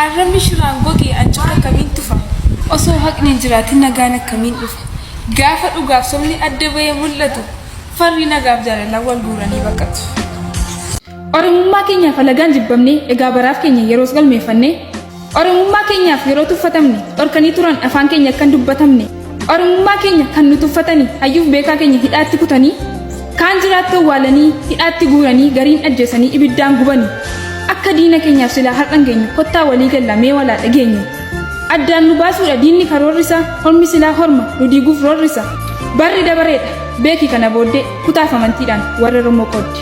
Arrabni shiraan goge ancoota akkamiin tufa? Osoo haqni hin jiraatin nagaan akkamiin dhufa? Gaafa dhugaaf sobni adda bahee mul'atu farri nagaaf jaalalaan wal guuranii baqatu. Oromummaa keenyaaf alagaan jibbamne egaa baraaf keenya yeroos galmeeffanne Oromummaa keenyaaf yeroo tuffatamne dhorkanii turan afaan keenya akka hin dubbatamne. Oromummaa keenya kan nu tuffatanii hayyuuf beekaa keenya hidhaatti kutanii kaan jiraatti awwaalanii hidhaatti guuranii gariin ajjeesanii ibiddaan gubanii akka diina keenyaaf silaa har'an geenyu kottaa walii galla mee walaa dhageenyu addaan nu baasuudha diinni karoorrisa hormi silaa horma nu diiguuf roorrisa barri dabareedha beeki kana booddee kutaaf amantiidhaan warra Oromoo qoodde.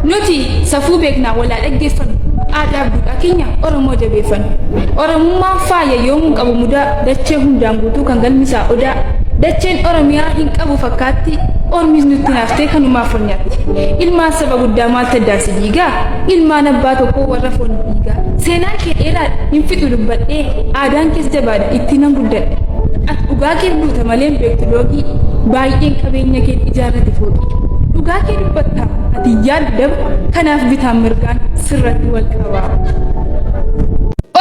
Nuti safuu beeknaa walaa dhaggeeffannu aadaa duudhaa keenya Oromoo jabeeffannu. Oromummaa faaya yoomuu qabu mudaa dachee hundaan guutuu kan galmisaa odaa. Dacheen Oromiyaa hin qabu fakkaatti ormis nutti naaftee kanumaa foon nyaatti. Ilmaan saba guddaa maaltu addaan si diigaa? Ilmaan abbaa tokkoo warra foon dhiigaa. Seenaan kee dheeraadha hin fixu dubbadhee aadaan kees jabaadha itti nan guddadhe. Ati dhugaa kee buuta malee hin beektu loogii baay'een qabeenya kee ijaarrate fooqii. Dhugaa kee dubbatta ati yaadni dabu kanaaf bitaan mirgaan sirratti wal qaba.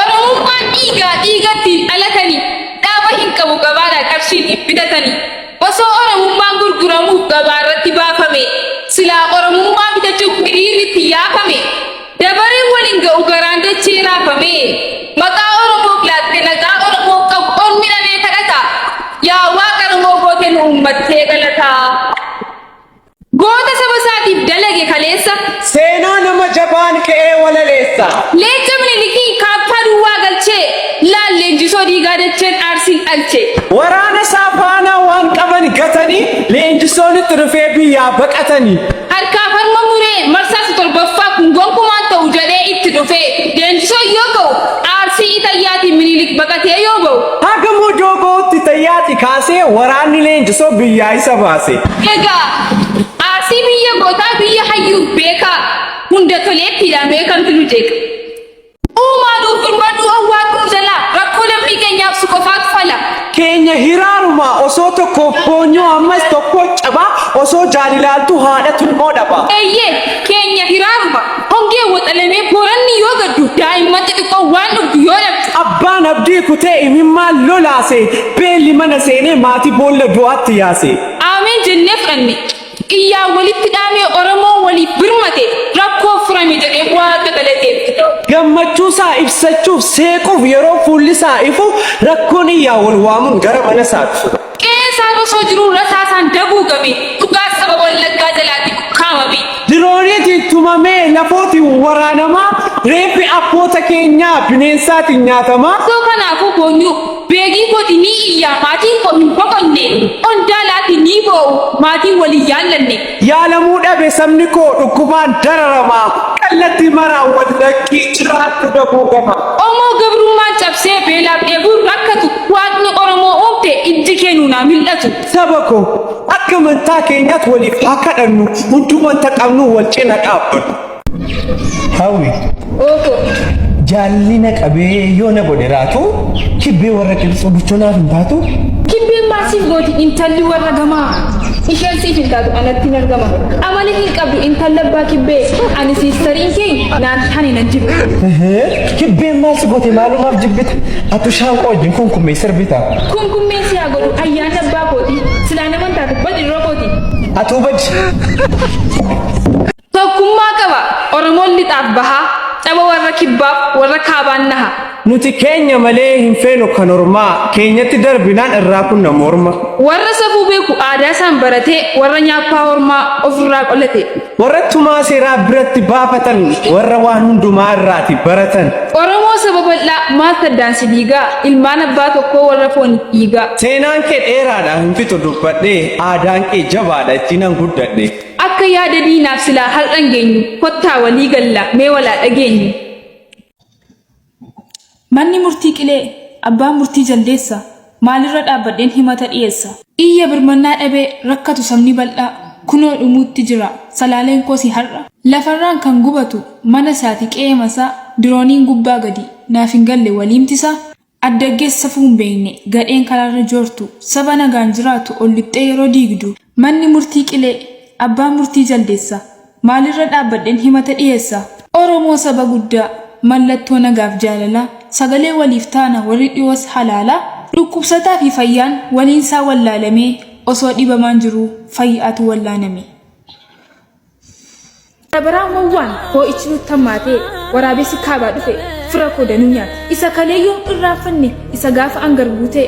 Oromummaan dhiigaa dhiigatti dhalatanii dhaaba hin qabu gabaadha qarshiin hin bitatanii osoo Oromummaan gurguramuuf gabaa irratti baafame silaa Oromummaa bitachuuf hiriirri itti yaafame dabareen waliin ga'u garaan dachee raafame maqaa Oromoof laatte nagaa Oromoof qabu ol midhamee kadhata yaa waaqa Oromoo goote nu uummattee galataa. Goota saba isaatiif dalage kaleessa. Seenaa nama jabaan qe'ee walaleessa. Leenca Minilikii kaappaa duwwaa galchee. Laal leenjisoo dhiigaa dacheen aarsiin dhalche. Waraana isaa faanaa waan qaban gatanii. Leenjisoon itti dhufee biyyaa baqatanii. Harkaaf harma muree marsaa isa torbaffaa kun gonkumaa hin ta'u jedhee itti dhufee. Leenjisoon yoo ka'u aarsii Itayyaatiin Minilik baqatee yoo ba'u. Haga Mojoo bahutti tayyaaxi kaasee waraanni leenjisoo biyyaa isa baase. Egaa Arsii biyya gootaa biyya hayyuuf beekaa hunda toleettiidha mee kamtu nu jeeqa. Uumaa nuuf birmadhu awwaaq nu jalaa rakkoo lammii keenyaaf si qofaatu fala. Keenya hiraarumaa osoo tokkoof boonyuu ammas tokkoo cabaa osoo jaalilaaltuu haadha tulmoo dhabaa. Eeyyee keenya hiraaruma Hongee waxalamee Booranni yoo gaddu, daa'imman xixiqqoo waan dhugdu yoo dhabdu. Abbaan abdii kutee imimmaan lolaase, beelli mana seenee maatii boolla du'aatti yaase. Aameen jennee fudhanne, iyyaa walitti dhaamee Oromoon waliif birmate, rakkoo furame jedhee Waaqa galateeffate. Gammachuusaa ibsachuuf, seequuf yeroo fuullisaa ifu, rakkoon iyyaa wal waamuun gara manasaa dhufu. Qe'ee isaarra osoo jiruu rasaasaan daguugame, dhugaa saba Wallaggaa jalaatti ukkaamame. Dirooniitiin tumamee lafootiin waraanamaa, reeffi abboota keenyaa bineensaatiin nyaatamaa. Osoo kanaafuu boonyuu, beegii kooti ni iyyaa maatiin koo hin boqonne, qondaalaatiin ni boo'u maatiin wal hin yaallanne. Yaalamuu dhabe sabni koo dhukkubaan dararama kallattii maraan wal lakkii jiraadhu daboo gama. Qomoo gabrummaan cabsee beelaaf dheebuun rakkatu waaqni Oromoo uumte ijji kee nuun haa mil'atu. Saba koo akka amantaa keenyaatti waliif haa kadhannu hunduu wanta qabnuun wal cina dhaabbannu. Hawwi. Ooko. Jaallina qabee yoo na godhe raatu kibbee warra qilxuu bichoo naaf hin taatu. Kibbeen maal siif gooti intalli warra gamaa. Isheen siif hin taatu anatti nan gama. Amala hin qabdu intalla abbaa kibbee ani siistariin kee naan tane nan jibbe. Kibbeen maal si goote maalumaaf jibbita? Atu shaanqoo wajjin kunkummee sirbita. Kunkummee si haa godhu ayyaana abbaa kooti. Silaa naman taatu badi yeroo kooti. Atuu badi. Tokkummaa qaba Oromoon lixaaf bahaa, caba warra kibbaaf warra kaabaan naha. Nuti keenya malee hin feenu kan ormaa, keenyatti darbinaan irraa kunna morma. Warra safuu beeku aadaa isaan baratee, warra nyaappaa ormaa of irraa qolate. Warra tumaa seeraa biratti baafatan, warra waan hundumaa irraati baratan. Oromoo saba bal'aa maaltu addaan si diigaa, ilmaan abbaa tokkoo warra fooniif dhiigaa. Seenaan kee dheeraadha hin fixu dubbadhee, aadaan kee jabaadha ittiinan guddadhe. Akka yaada diinaaf silaa har'an geenyu kottaa walii galla mee walaa dhageenyu. Manni murtii qilee abbaan murtii jaldeessa maalirra dhaabbadheen himata dhiyeessa. Iyya birmannaa dhabee rakkatu sabni bal'aa kunoo dhumuutti jira salaaleen koosi har'a. Lafarraan kan gubatu mana isaati qe'eema isaa dirooniin gubbaa gadi naaf hin galle waliimti isaa. Addaggessa safuu hin beekne, gadheen karaarra joortu, saba nagaan jiraatu ol lixxee yeroo diigdu, manni murtii qilee, abbaan murtii jaldeessa, maalirra dhaabbadheen himata dhiyeessa? Oromoo saba guddaa, mallattoo nagaaf jaalalaa, sagalee waliif taana warri dhiyoos halaalaa, dhukkubsataa fi fayyaan waliinsaa wallaalamee, osoo dhibamaan jiruu fayya'atu wallaaname. Bara baraa wawwaan hoo'ichi nutti hammaatee waraabessi kaabaa dhufe fira koo danuu nyaate isa kalee yoom irraanfanne isa gaafa angar guutee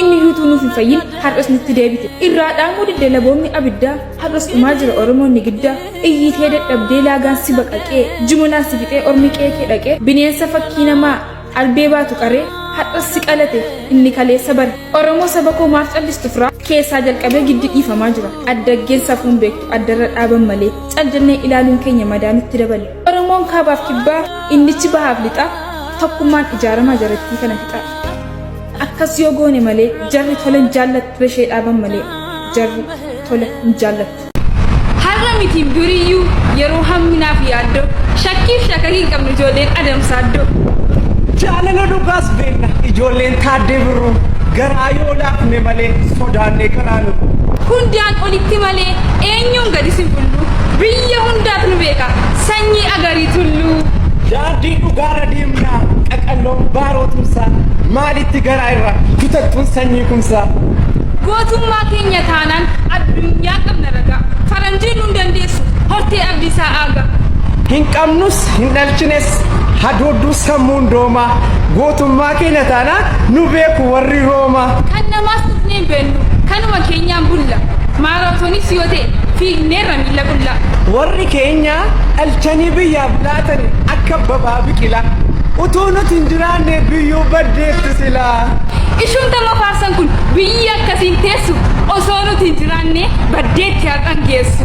inni yuutuu nuuf hin fayyin har'as nutti deebite irraa dhaamuu didde laboonni abiddaa har'as dhumaa jira oromoonni giddaa iyyiitee dadhabdee laagaan si baqaqee jimonaan si fixee ormi qeekee dhaqee bineensa fakkii namaa Albee baatu qaree hadhas si qalate inni kaleessa bare Oromoo saba koo maaf callistu firaa keessaa jalqabee giddi dhiifamaa jira addaggeen safuun beektu addarra dhaaban malee cal jennee ilaaluun keenya madaa nutti dabale Oromoon kaabaaf kibbaa innichi bahaaf lixaa tokkummaan ijaaramaa jarattii kana fixaa akkas yoo goone malee jarri tola hin jaallattu ishee dhaaban malee jarri tola hin jaallattu. Har'a miti biriyyuu yeroo hamminaaf yaaddoo shakkiif shakakii hin qabnu ijoolleen adamsaaddoo. Jaalala dhugaas beenna ijoolleen taaddee birruu garaa yoo laafne malee sodaannee karaa nu. Hundaan olitti malee eenyuun gadi sin bullu biyya hundaat nu beeka sanyii agarii tulluu. Daandii dhugaarra deemnaa qaqalloon baaroo tumsaa maalitti garaa irraa kutattuun sanyii kumsaa. Gootummaa keenya taanaan. Kan addunyaa qabna ragaa. Faranjiin nun dandeessu hortee abdiisaa aagaa. Hin qabnus hin dhalchines hadoodduun sammuun doomaa. Gootummaa keenya taanaan nu beeku warri Roomaa. Kan namaas tuqnee hin beennu kanuma keenyaan bulla. Maaraatoonis yoo ta'e fiigneerra miila qullaa. Warri keenya dhalchanii biyyaaf laatani akka abbabaa biqilaa. Utuu nuti hin jiraanne biyyuu baddeetti silaa. Ishuun tama faarsan kun biyyi akkasiin teessu. geessu osoo nuti hin jiraanne baddeetti haqan geessu.